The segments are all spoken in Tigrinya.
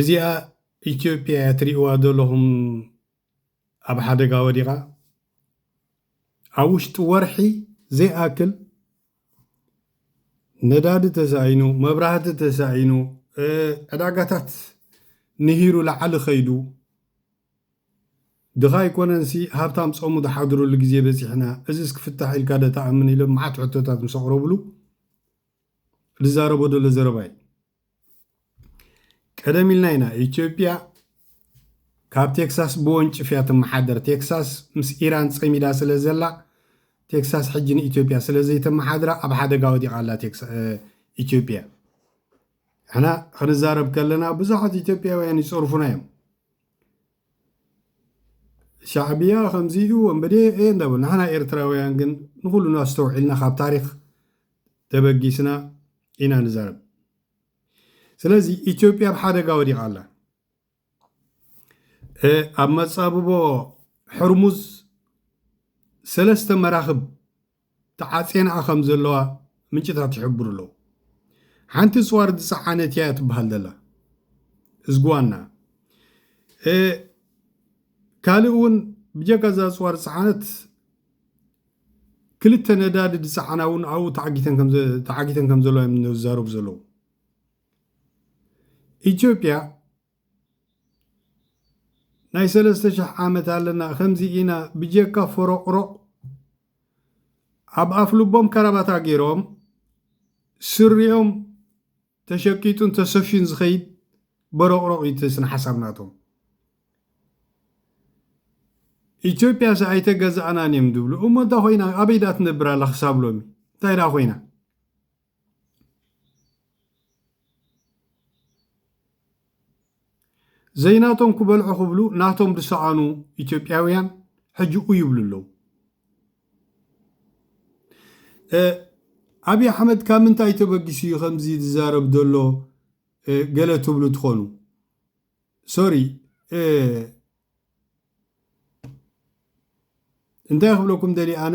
እዚኣ ኢትዮጵያ እያ ትሪእዋ ዘለኹም ኣብ ሓደጋ ወዲቓ ኣብ ውሽጢ ወርሒ ዘይኣክል ነዳዲ ተሳኢኑ መብራህቲ ተሳኢኑ ዕዳጋታት ንሂሩ ላዓሊ ከይዱ ድኻ ኣይኮነንሲ ሃብታም ፀሙ ዝሓድረሉ ግዜ በፂሕና እዚስ ክፍታሕ ኢልካ ዶ ትኣምን ኢሎም መዓት ሕቶታት ምስ ኣቕረብሉ ልዛረቦ ደሎ ዘረባ እዩ። ቀደም ኢልና ኢና ኢትዮጵያ ካብ ቴክሳስ ብወንጭፍ እያ ትመሓደር። ቴክሳስ ምስ ኢራን ፀሚዳ ስለ ዘላ ቴክሳስ ሕጂ ንኢትዮጵያ ስለ ዘይተመሓድራ ኣብ ሓደጋ ወዲቓ ኣላ ኢትዮጵያ። ሕና ክንዛረብ ከለና ብዙሓት ኢትዮጵያውያን ይፀርፉና እዮም። ሻዕብያ ከምዚ ኢሉ ወንበዴ እየ እንዳበሉ ንሕና ኤርትራውያን ግን ንኹሉ ኣስተውዒልና ካብ ታሪኽ ተበጊስና ኢና ንዛረብ ስለዚ ኢትዮጵያ ኣብ ሓደጋ ወዲቓ ኣላ ኣብ መጻብቦ ሕርሙዝ ሰለስተ መራኽብ ተዓጽየንኣ ከም ዘለዋ ምንጭታት ይሕብሩ ኣለዉ። ሓንቲ ጽዋር ዝጸዓነት እያ ትበሃል ዘላ እዝግዋና። ካልእ እውን ብጀካ እዛ ጽዋር ዝጸዓነት ክልተ ነዳዲ ዝጸዓና እውን ኣብኡ ተዓጊተን ከም ዘለዋ እዮም ዝዛረቡ ዘለዉ። ኢትዮጵያ ናይ ሰለስተ ሽሕ ዓመት ኣለና ከምዚ ኢና ብጀካ ፎሮቅሮቅ ኣብ ኣፍ ልቦም ከራባታ ጌሮም ስሪኦም ተሸቂጡን ተሰፍዩን ዝኸይድ በሮቅሮቅ እዩ እቲ ስነ ሓሳብ ናቶም ኢትዮጵያ ሰ ኣይተገዛእናን እዮም ዝብሉ እሞ እንታይ ኮይና ኣበይ ድኣ ትነብር ኣላ ክሳብ ሎሚ እንታይ ድኣ ኮይና ዘይናቶም ክበልዑ ክብሉ ናቶም ዝሰኣኑ ኢትዮጵያውያን ሕጂ ኡይ ይብሉ ኣለዉ። ኣብዪ ኣሕመድ ካብ ምንታይ ተበጊሱ እዩ ከምዚ ዝዛረብ ዘሎ ገለ ትብሉ ትኾኑ ሶሪ እንታይ ክብለኩም ደልየ ኣነ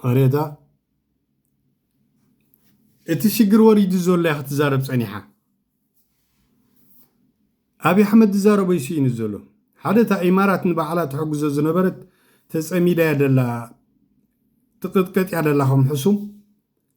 ቐሬታ እቲ ሽግር ወሪዱ ዘሎ እያ ክትዛረብ ፀኒሓ ኣብዪ ኣሕመድ ዝዛረቦ እዩ ስኢኑ ዘሎ ሓደ እታ ኢማራት ንባዕላ ትሕግዞ ዝነበረት ተፀሚዳ እያ ደላ ትቕጥቀጥ እያ ደላ ከም ሕሱም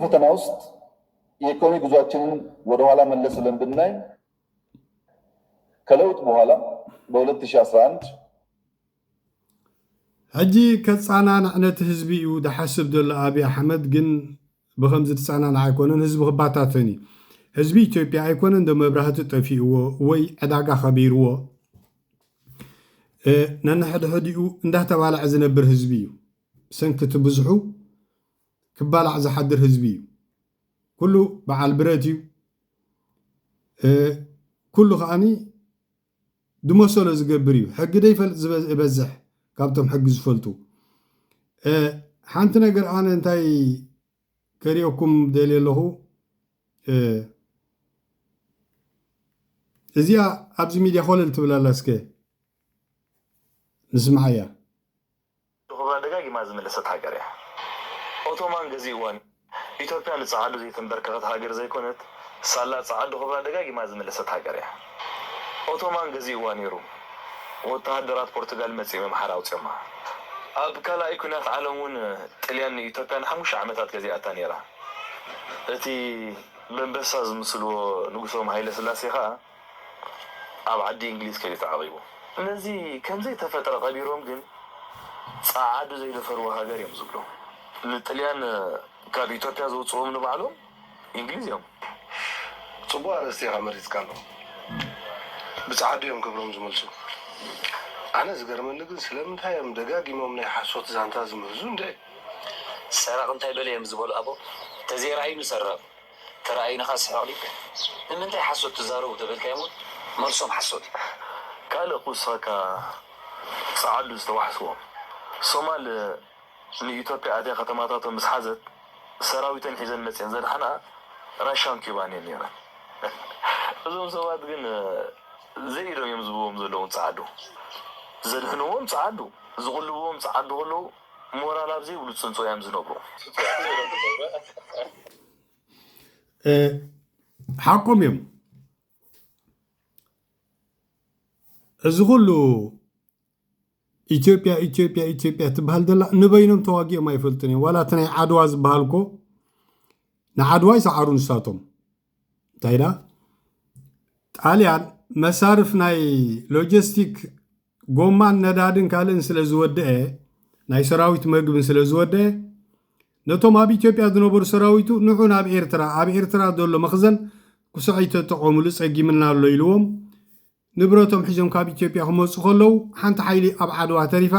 ፈተና ውስጥ የኢኮኖሚ ጉዟችንን ወደ ኋላ መለስ ብለን ብናይ ከለውጥ በኋላ በ2011 ሕጂ ከጻናናዕ ነቲ ህዝቢ እዩ ዝሓስብ ዘሎ ኣቢ ኣሕመድ ግን ብከምዚ ዝጻናናዕ ኣይኮነን ህዝቢ ክባታተን እዩ ህዝቢ ኢትዮጵያ ኣይኮነን ዶ መብራህቲ ጠፊእዎ ወይ ዕዳጋ ከቢርዎ ነንሕድሕዲኡ እንዳተባልዐ ዝነብር ህዝቢ እዩ ብሰንኪ እቲ ብዝሑ ክባላዕ ዝሓድር ህዝቢ እዩ። ኩሉ በዓል ብረት እዩ። ኩሉ ከኣ ዝመሰሎ ዝገብር እዩ። ሕጊ ዘይፈልጥ ዝበዝሕ ካብቶም ሕጊ ዝፈልጡ። ሓንቲ ነገር ኣነ እንታይ ከርእየኩም ደልየ ኣለኹ እዚኣ ኣብዚ ሚድያ ኮለል ትብል ኣላ እስከ ንስምዓያ። ንኩባ ደጋጊማ ዝመለሰት ሃገር እያ። ኦቶማን ገዚእዋን እዩ። ኢትዮጵያ ንጸዓዱ ዘይተምበርከኸት ሃገር ዘይኮነት፣ ሳላ ጸዓዱ ኩባ ደጋጊማ ዝመለሰት ሃገር እያ። ኦቶማን ገዚእዋ ነይሩ። ወተሃደራት ፖርቱጋል መጺእም ኣምሓራ ኣውጺኦማ። ኣብ ካልኣይ ኩናት ዓለም እውን ጥልያን ንኢትዮጵያ ንሓሙሽተ ዓመታት ገዚኣታ ነይራ። እቲ በንበሳ ዝምስልዎ ንጉሶም ሃይለስላሴ ከኣ፣ ኣብ ዓዲ እንግሊዝ ከይዱ ተዓቂቡ ነዚ ከምዘይተፈጥረ ቀቢሮም ግን ጸዓዱ ዘይደፈርዋ ሃገር እዮም ዝብሉ ንጥልያን ካብ ኢትዮጵያ ዘውጽእዎም ንባዕሎም እንግሊዝ እዮም። ጽቡቅ ኣርእስቲ ኢኻ መሪጽካሎም ብጸዓዱ እዮም ክብሮም ዝምልሱ ኣነ ዝገርመኒ ግን ስለምንታይ እዮም ደጋጊሞም ናይ ሓሶት ዛንታ ዝምህዙ እንድዒ። ሰራቂ እንታይ በለ እዮም ዝበሉ ኣቦ ተዘይ ረኣዩ ንሰረቅ። ተራኣዩንኻ ስሕቕ ሊቅ ንምንታይ ሓሶት ትዛረቡ ተበልካዮም ውን መልሶም ሓሶት እዩ። ካልእ ክውስኸካ ጸዓዱ ዝተዋሕስዎ ሶማል ንኢትዮጵያ ኣትያ ከተማታቶም ምስ ሓዘት ሰራዊተን ሒዘን መጺኤን ዘድሓናኣ ራሻን ኪባን እየን ኔረን እዞም ሰባት ግን ዘይ ኢዶም እዮም ዝብዎም ዘለዉ ጸዓዱ ዘድሕንዎም ጸዓዱ ዝቕልብዎም ጸዓዱ ከለዉ ሞራል ኣብ ዘይብሉ ፅንፆ እዮም ዝነብሩ። ሓቆም እዮም እዚ ኩሉ ኢትዮጵያ ኢትዮጵያ ኢትዮጵያ ትበሃል ዘላ ንበይኖም ተዋጊኦም ኣይፈልጡን እዮም ዋላ እቲ ናይ ዓድዋ ዝበሃል እኮ ንዓድዋ ይሰዓሩ ንሳቶም እንታይ ዳ ጣልያን መሳርፍ ናይ ሎጂስቲክ ጎማን ነዳድን ካልእን ስለ ዝወደአ ናይ ሰራዊት መግብን ስለ ዝወደአ ነቶም ኣብ ኢትዮጵያ ዝነበሩ ሰራዊቱ ንዑ ናብ ኤርትራ ኣብ ኤርትራ ዘሎ መኽዘን ኩስዐይ ተጠቐሙሉ ጸጊምና ኣሎ ኢልዎም ንብረቶም ሒዞም ካብ ኢትዮጵያ ክመጹ ከለዉ ሓንቲ ሓይሊ ኣብ ዓድዋ ተሪፋ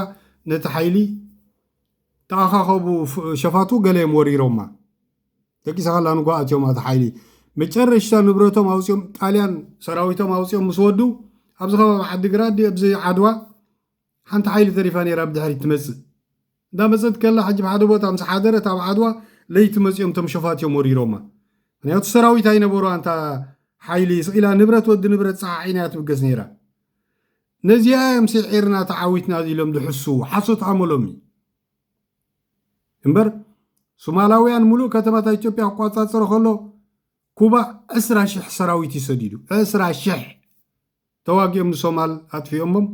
ነቲ ሓይሊ ተኣኻኸቡ ሸፋቱ ገለዮም ወሪሮማ ደቂሳ ከላ ንጎ ኣትዮም ኣቲ ሓይሊ መጨረሽታ ንብረቶም ኣውጺኦም ጣልያን ሰራዊቶም ኣውጺኦም ምስ ወዱ ኣብዚ ከባቢ ዓዲግራት ኣብዚ ዓድዋ ሓንቲ ሓይሊ ተሪፋ ነይራ ብ ድሕሪት ትመጽእ እንዳ መጸት ከላ ሕጂ ብ ሓደ ቦታ ምስ ሓደረት ኣብ ዓድዋ ለይቲ መጽዮም እቶም ሸፋቱ እዮም ወሪሮማ ምክንያቱ ሰራዊት ኣይነበሮዋን እታ ሓይሊ ስቅ ኢላ ንብረት ወዲ ንብረት ጸዓዒና እያ ትብገስ ነይራ ነዚኣ እዮም ሲዒርና ተዓዊትና ኢሎም ዝሕስዉ ሓሶት ኣመሎም እዩ እምበር ሱማላውያን ሙሉእ ከተማታት ኢትዮጵያ ክቋጻጸሮ ከሎ ኩባ ዕስራ ሽሕ ሰራዊት እዩ ሰዲዱ ዕስራ ሽሕ ተዋጊኦም ንሶማል ኣጥፊኦሞም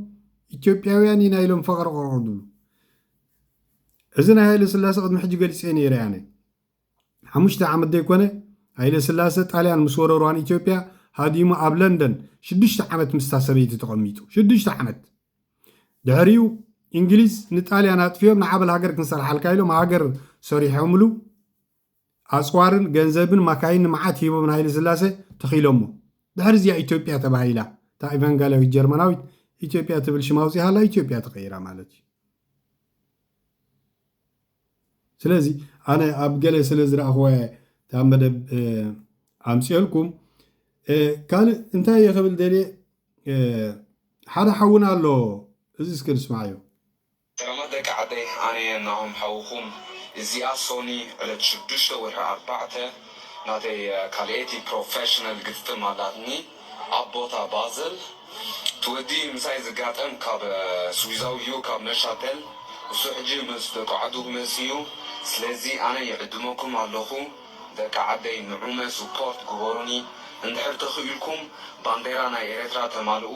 ኢትዮጵያውያን ኢና ኢሎም ፈቅረቅረቅ ዝብሉ እዚ ናይ ሃይለ ስላሰ ቅድሚ ሕጂ ገሊፀ ነይረ ኣነ ሓሙሽተ ዓመት ዘይኮነ ሃይለ ስላሰ ጣልያን ምስ ወረርዋን ኢትዮጵያ ሃዲሙ ኣብ ለንደን ሽዱሽተ ዓመት ምስታ ሰበይቲ ተቐሚጡ ሽዱሽተ ዓመት ድሕሪኡ እንግሊዝ ንጣልያን ኣጥፊኦም ንዓበል ሃገር ክንሰርሓልካ ኢሎም ሃገር ሰሪሖምሉ ኣጽዋርን ገንዘብን ማካይን ንመዓት ሂቦም ንሃይለስላሰ ተኺሎሞ። ድሕሪ እዚ'ያ ኢትዮጵያ ተባሂላ። እታ ኢቫንጋልያዊት ጀርመናዊት ኢትዮጵያ ትብል ሽም ኣውጺኣላ ኢትዮጵያ ተቐይራ ማለት እዩ። ስለዚ ኣነ ኣብ ገለ ስለ ዝረኣኽዋ እየ እታ መደብ ኣምፅኦልኩም ካልእ እንታይ እየ ክብል ደልየ ሓደ ሓውና ኣሎ እዚ እስከ ንስማዕዮ ሰላማት ደቂ ዓደይ ኣነየ ናሆም ሓውኩም እዚኣ ሶኒ ዕለት ሽዱሽተ ወርሒ ኣርባዕተ ናተይ ካልኤቲ ፕሮፈሽነል ግጥም ኣላትኒ ኣብ ቦታ ባዘል እቲ ወዲ ምሳይ ዝጋጠም ካብ ስዊዛዊ እዩ ካብ ነሻተል እሱ ሕጂ ምስ ደቁ ዓዱ ክመጽ እዩ ስለዚ ኣነ ይዕድመኩም ኣለኩ ደቂ ዓደይ ንዑመ ስፖርት ግበሩኒ እንድሕር ተኪኢልኩም ባንዴራ ናይ ኤረትራ ተማልኡ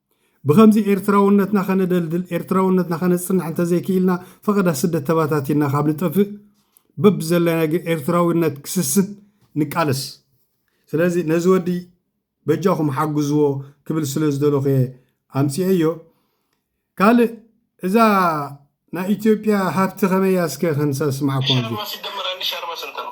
ብኸምዚ ኤርትራውነትና ከነደልድል፣ ኤርትራውነትና ከነጽንዕ እንተዘይክኢልና፣ ፈቐዳ ስደት ተባታቲንና ካብ ንጠፍእ፣ በብዘለናዮ ግን ኤርትራዊነት ክስስን ንቃለስ። ስለዚ ነዚ ወዲ በጃኹም ሓግዝዎ ክብል ስለ ዝደለኹ'የ ኣምጺኤዮ። ካልእ እዛ ናይ ኢትዮጵያ ሃብቲ ከመይ እያ እስከ ክንሰስምዓኩም። ሸርባ ሲደመር ኣንድ ሻርባ ስንት ነው?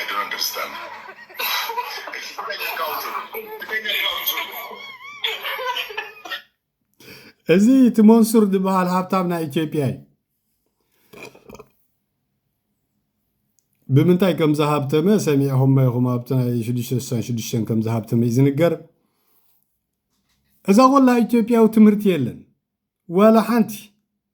I don't understand. እዚ እቲ መንሱር ዝበሃል ሃብታም ናይ ኢትዮጵያ እዩ ብምንታይ ከም ዝሃብተመ ሰሚዕኹም ኢኹም ኣብቲ ናይ 666 ከም ዝሃብተመ እዩ ዝንገር እዛ ቆላ ኢትዮጵያዊ ትምህርቲ የለን ዋላ ሓንቲ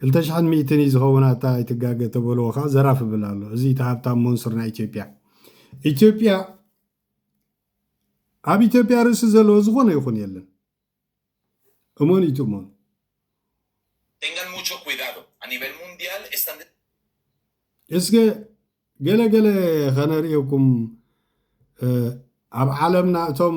ክልተ ሽሕን ሚእትን እዩ ዝኸውን ኣታ ኣይትጋገ ተበልዎ ከዓ ዘራፍ ብል ኣሎ እዚ እቲ ሃብታም ሞንሱር ናይ ኢትዮጵያ ኢትዮጵያ ኣብ ኢትዮጵያ ርእሲ ዘለዎ ዝኾነ ይኹን የለን እሞን እዩ ትእሞን እስከ ገለገለ ከነርእየኩም ኣብ ዓለምና እቶም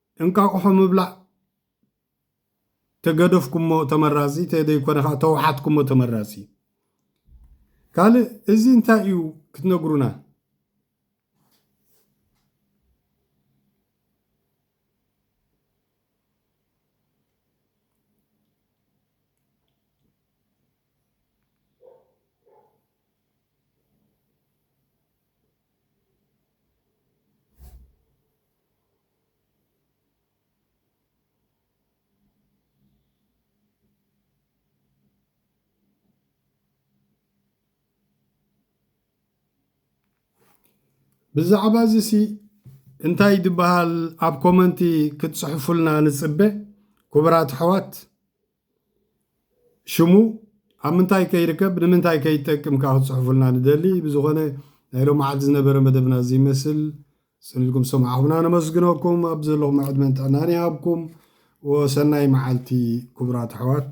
እንቃቁሖ ምብላዕ ተገደፍኩሞ ተመራጺ ተደይኮነ ከኣ ተውሓትኩሞ ተመራጺ ካልእ እዚ እንታይ እዩ ክትነግሩና ብዛዕባ እዚ ሲ እንታይ ድበሃል ኣብ ኮመንቲ ክትጽሕፉልና ንጽበ ኩቡራት ኣሕዋት። ሽሙ ኣብ ምንታይ ከይርከብ ንምንታይ ከይጠቅም ከኣ ክትጽሕፉልና ንደሊ ብዝኾነ ናይ ሎማዓልቲ ዝነበረ መደብና እዚ ይመስል ጽኒኢልኩም ሰማዕኹምና ነመስግነኩም ኣብ ዘለኹም ዕድመን ጥዕናን ይሃብኩም ወሰናይ መዓልቲ ክቡራት ኣሕዋት